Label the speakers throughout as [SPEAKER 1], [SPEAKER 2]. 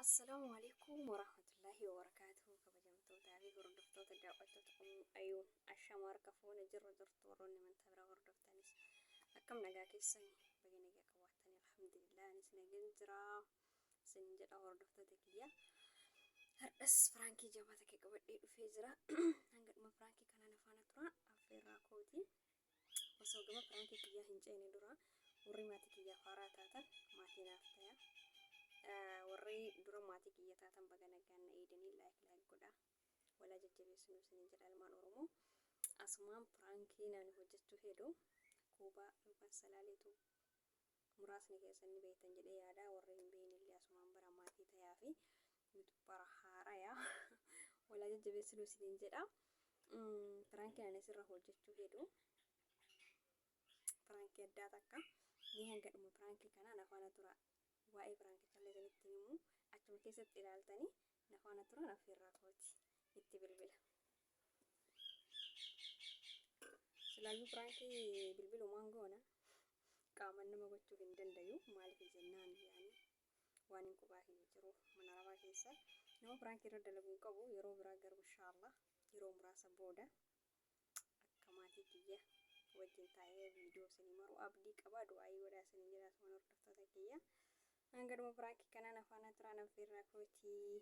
[SPEAKER 1] Assalaamu alaikum warahmatullaahi wabarakaatuhu kabajamtootaa fi hordoftoota daawwattoota Ummu Ayuu ashama harka fuune jirra jirtu warroonni amantaa biraa hordoftanis akkam nagaa keessani baga nagaa qabaattan alhamdulillah anis nagaan jira isinin jedha hordoftoota kiyya hardhas firaankii jabaa takka qabadhee dhufee jira hanga dhuma firaankii kanaan afaana turaa affeerraa kooti osoo gama piraankii kiyyaa hin ceene dura warri maatii kiyyaa faaraa taatan maatii naaf taya warri dura maatii kiyya taatan baga nagaan na eedanii laayik laayik godhaa walaa jajjabeessinu isinin jedha ilmaan oromoo asumaan piraankiin ani hojjechuu heedu kuubaa yookaan salaaleetu muraasni keessan ni beektan jedhee yaada warri hin beeknellee asumaan bara maatii tayaa fi yuutubbara haaraya walaa jajjabeessinuu isiniin jedha piraankiin ani sirra hojjechuu hedu piraankii addaa takka ni hanga dhuma piraankii kanaa na faana tura waa'ee piraankichallee isinitti himu achuma keessatti ilaaltanii na faana tura na fiirraa kooti itti bilbila. Silaayyuu piraankii bilbilumaan goona. Qaaman nama gochuu hin dandayu. Maaliif jennaan yaani waan hin qubaa hin jiru mana arabaa keessa. Nama piraankii irra dalagu hin qabu. Yeroo biraa garuu inshaallah yeroo muraasa booda akka maatii kiyya wajjin taa'ee viidiyoo isinii maruu abdii qabaa du'aayii godhaa isiniin jedha asumaan hordoftoota kiyya. Hanga dhuma piraankii kanaan afaanaa turaa nan feerraa kootii.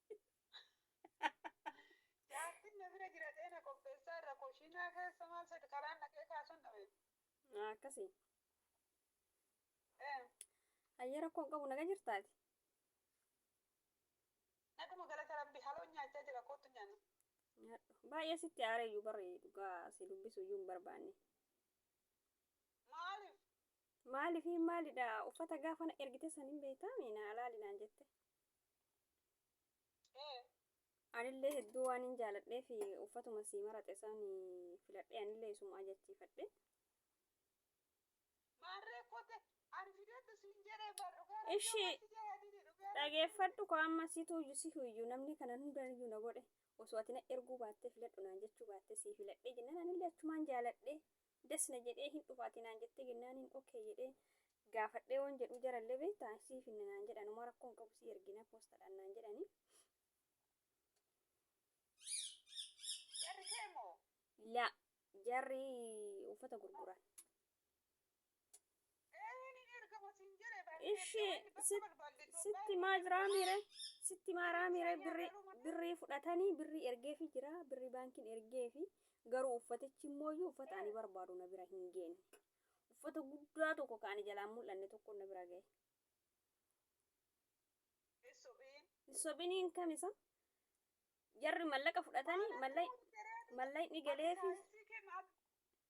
[SPEAKER 2] Jaartiin na bira jira ta'ee na qopheessaa irra koshiinaa keessa maal seete karaan naqee kaasuun dhabe. Ah, Akkasi.
[SPEAKER 1] Eh, Hayyee rakkoon qabu naga jirtaati.
[SPEAKER 2] Naguma galata rabbi haloon nyaachaa jira kootu nyaanna. Nyaadhu. Baay'ee
[SPEAKER 1] sitti aareeyyuu barri dhugaa si dubbisuu iyyuu hin barbaanne.
[SPEAKER 2] Maaliif? Maaliif
[SPEAKER 1] maalidha uffata gaafa na ergite san hin beektaami na alaalinaan jette. anillee hedduu waan hin jaaladhee fi uffatuma sii maraxe san filadhee anillee isuma ajachiifadhe
[SPEAKER 2] Maarree kote ani fideetu siin jedhee bar dhugaa Ishi. rabbii jedhee
[SPEAKER 1] adini dhugaa dhageeffadhu koo amma situ si huyyu namni kana hunda iyyuu na godhe osoo ati na erguu baattee filadhu naan jechuu baattee sii filadhee jennaan anillee achumaan jaaladhee das na jedhee hin dhufa ati naan jettee jennaanin ok jedhee gaafadhee wan jedhuu jarallee beekta sii finna naan jedhan homaa rakkoo hin qabu sii ergina poostadhaan naan jedhani
[SPEAKER 2] Jarri kee moo? la
[SPEAKER 1] jarri uffata gurguran. Ishi sitti maa jiraa miire sitti maaraa miire birri birrii fudhatanii birrii ergeefi jira birrii baankiin ergeefi garuu uffatichi immoo uffata ani barbaadu na bira hin geenne uffata guddaa tokko ka ani jalaan mul'anne tokko na bira ga'e. Sobiniin kamisa jarri mallaqa fudhatanii mallaqni galeefi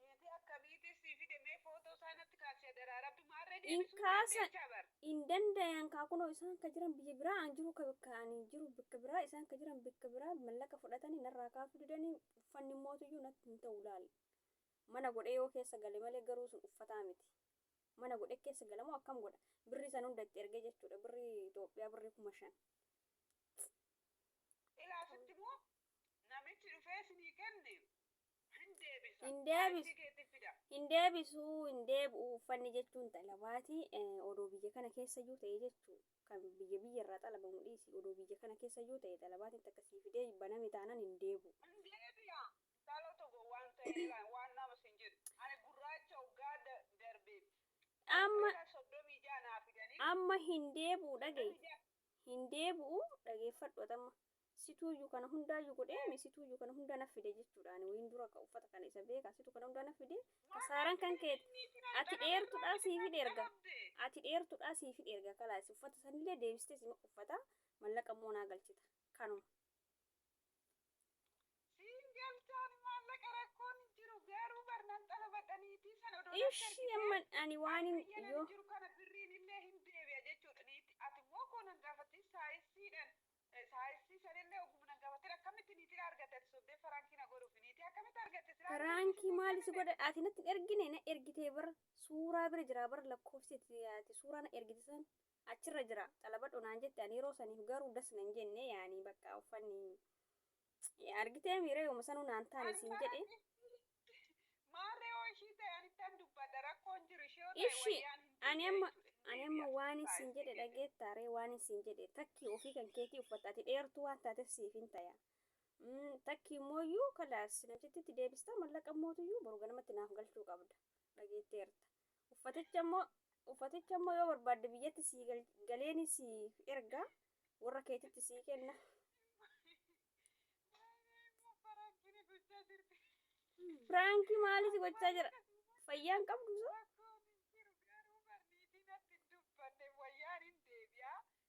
[SPEAKER 1] Niitii akkamiitii sii fide mee footoo isaa natti kaasi adaraa rabbi maarree in deebisuu hin kaasan dandeechaa bar. in dandayan kaa kunoo isaan ka jiran biyya biraa an jiru ka bakka ani jiru bakka biraa isaan ka jiran bakka biraa mallaqa fudhatani narraa kaasuu didani uffanni mootuyyuu natti hin ta'u laal mana godhee yoo keessa gale malee garuu sun uffataa miti mana godhee keessa gala moo akkam godha birrii san hunda itti ergee jechuudha birrii Itoophiyaa birrii kuma shan.
[SPEAKER 2] Ilaa sitti moo Namichi dhufee isinii kenne hin
[SPEAKER 1] deebisa. Hin deebisu. Jaartii keetti fida. Hin deebisu, hin deebi'u uffanni jechuun xalabaati. Eh, odoo biyya kana keessayyuu ta'e jechuu kan biyya biyya irraa xalabamu dhiisi. Odoo biyya kana keessayyuu ta'e xalabaatiin takka sii fidee baname taanan hin deebi'u. Hin deebi'a. Intalo to gowwaan ta'ee laa waan nama sin jedhu. Ani gurraacha waggaa da- darbe Amma, Afrika soddomii ja'a naa fidanii amma hin deebi'u dhaga'i. soddomii ja'a Hin deebi'u dhageeffadhu atamma. Situuyyu kana hundaayyu godhee mi situuyyu kana hunda naf fide jechuudha ani wayin dura ka uffata kana isa beeka situ kana hunda naf fide kasaaran kan keeti ati dheertudha siifin erga ati dheertudha siifin erga kalaas uffata sanillee deebiste sima uffata mallaqa immoo naa galchita kanuma. Siin galchaani maallaqa rakkoon hin jiru gaaruu bar nan xalabadha niitii san odoo natti Ishi argitee amman ani waanin ani biyya yoo. nani jiru kana birriin illee hin deebi'a jechuudha niitti ati immoo koo nan gaafatiin saayisiidhan Saayisii sanillee oguma nan gaafatin akkamitti niitii na argatte ati sobdee faraankii na godhuuf niitii akkamitti argatte silaa Paraankii maali si godhe ati natti hin ergine na ergitee bar suuraa bira jira bar lakkoofsi ati ati suuraa na ergite san achirra jira xalabadhu naan jette ani yeroo saniif garuu das nan jenne yaani bakka uffanni Cii argitee miiree yooma sanuu naan taane siin jedhe. Maarree hoo ishii ta'e anittan dubbadha rakkoon jiru ishee yoo ta'e Ishi wayyaan hin ani deebi'a amma jechuudha. ani amma Deebi'a. waanin siin Baay'ee jedhe deebi'a. dhageettaa ree waanin siin jedhe takkii ofii kan keetii uffatta ati dheertuu waan taateef siif hin taya. Mm, Takkii immooyyuu kalaas namtittitti deebistaa mallaqa immootuyyuu boru ganamatti naaf galchuu qabda dhageetteerta. Uffaticha immoo uffaticha immoo yoo barbaadde biyyatti sii gal- galeeni siif erga warra keetitti sii kenna. Piraankii maaliif gochaa jira? Fayyaa hin qabdu soo?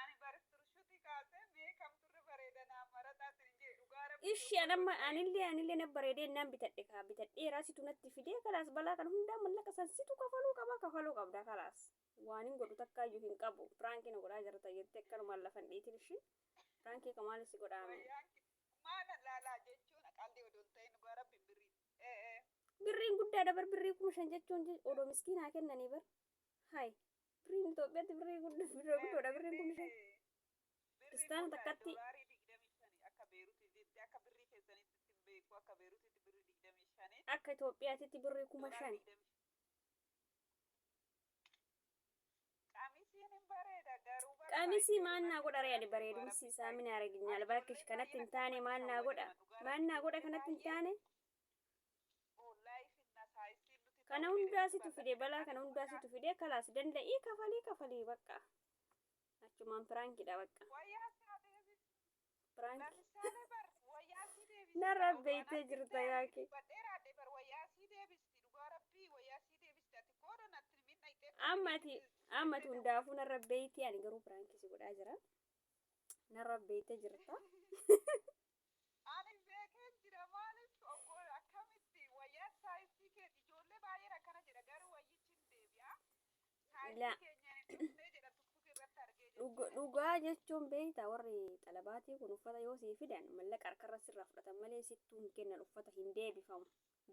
[SPEAKER 1] Ani bar srshuti kaase mee kamtu irra bareeda naaf maraxaa sinin jedhe dhugaa rabbii Ishi an amma obboloota. anillee anillee na bareedee innaan bitadhe kaa bitadheeraa situ natti fidee kalaas balaa kana hundaa mallaqa san situ kafaluu qabaa kafaluu qabda kalaas waanin godhu takkaayyuu hin qabu piraankii na godhaa jirta jettee akkanumaan lafa hin dhiitin ishi piraankii ka maali si godhaame Wayyaan kee. Maa na laalaa jechuun qaldi odoo hin ta'in dhugaa rabbiin birrii. Ee ee. birriin guddaadha bar birrii kuma shan jechuun je- odoo miskiinaa kennanii bar hay Birriin Itoophiyaatti birrii guddaa birrii guddoodha birriin kun ishee. Kiristaana takkatti. Doolaarii digdamii shani akka beerutiitti akka birrii keessanitti ittiin beeku akka beerutiitti birrii digdamii shani. Akka Itoophiyaatitti birrii kuma shan. Qamisiin hin bareeda garuu bara Qamisii baay'ee maal naa namatti godha ree ani tola. bareedumsi isaa min araginyaal baakish kanatti hin taane maal naa godha maal naa godha kanatti hin taane Kana hundaa situ fide balaa kana hundaa situ fide kalaas danda'ii kafalii kafalii bakka. Achumaan piraankidha bakka. Piraank. Narra beeytee jirta yaake. Amma ati amma ati hundaafuu narra beeytee ani garuu piraankii si godhaa jira. Narra beeytee jirta. Ani beekeen jira maaliif obbo akkamitti wayyaa saayisii keeti ijoollee baay'een akkana jedha garuu wayyichi hin deebi'a saayisii Laa. keenya hin dhufnee jedha tuktuk irratti argee Dhuga- jechuudha. dhugaa jechuun beektaa warri xalabaatii kun uffata yoo sii fidan mallaqa harkarra sirraa fudhatan malee sittuu hin kennan uffata hin deebifamu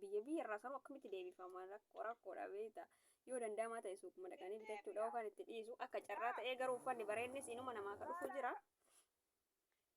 [SPEAKER 1] biyya biyya irraa sanuu akkamitti deebifama rakkoo rakkoodha beektaa yoo danda'amaa ta'e suuquma dhaqanii bitachuudha yookaan itti dhiisu akka carraa ta'ee garuu uffanni bareednis inuma namaa ka dhufu jira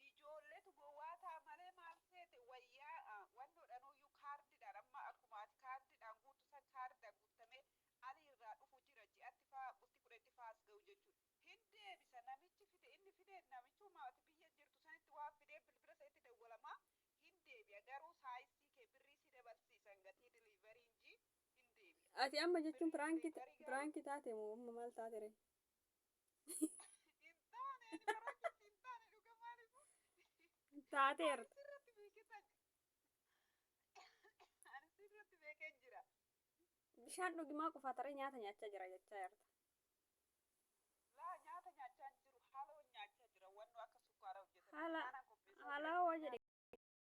[SPEAKER 1] Ijoolletu gowwaa ta'a malee maal feete wayyaa wannoodhanuuyyuu kaardidhaan amma akkuma ati kaardidhaan guuttu san kaardidhaan guuttamee alii irraa dhufu jira ji'atti faa bultii kudhanitti faa as gahu jechuudha hin deebisa namichi fide inni fide namichuma ati biyya jirtu sanitti waan fidee bilbila sanitti dawwalamaa hin deebi'a garuu saayisii kee birrii si dabalsiisan gatii delivery njii hin deebi'a. Ati amma jechuun birrii piraanki delivery garuu. piraanki taate moo amma maal taate ree. taateera bishaan dhugimaa qofaa taree nyaata nyaachaa jira jechaa jirta haala haalaa waa jedhe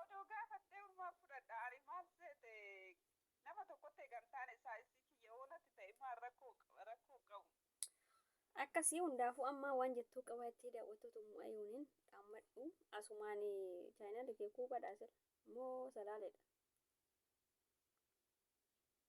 [SPEAKER 2] Odoo gaafattee ulmaa fudhadha ani maal seete nama tokkotti egan taane isaa isii kiyya yoo natti ta'e maal rakkoo qaba rakkoo hin qabu.
[SPEAKER 1] Akkasii hundaafuu ammaa waan jettuu qaba jettee daawwattoota ummu ayuuniin dhaammadhu asumaan chaayinaalii kee kuubadhaa sila moo salaaleedha.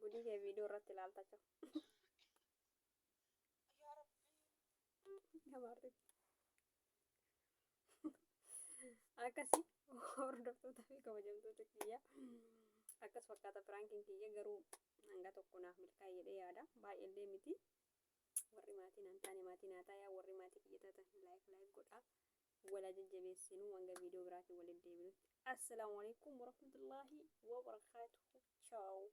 [SPEAKER 2] Gudii kee viidiyoo
[SPEAKER 1] irratti ilaalta choo. Yaa
[SPEAKER 2] Rabbii. Gabaarri.
[SPEAKER 1] Akkasi hordoftoota fi kabajamtoota kiyya. Akkas fakkaata piraankiin kiyya garuu hanga tokko naaf milkaa'e jedhee yaada. Baay'ee illee miti. Warri maatii naan taane maatii naa taayaa warri maatii kiyya taatan laayik laayik godhaa. wal haa jajjabeessinu hanga viidiyoo biraatiin walitti deebinutti assalaamu alaikum warahmatullaahi wabarakaatuhu chaawu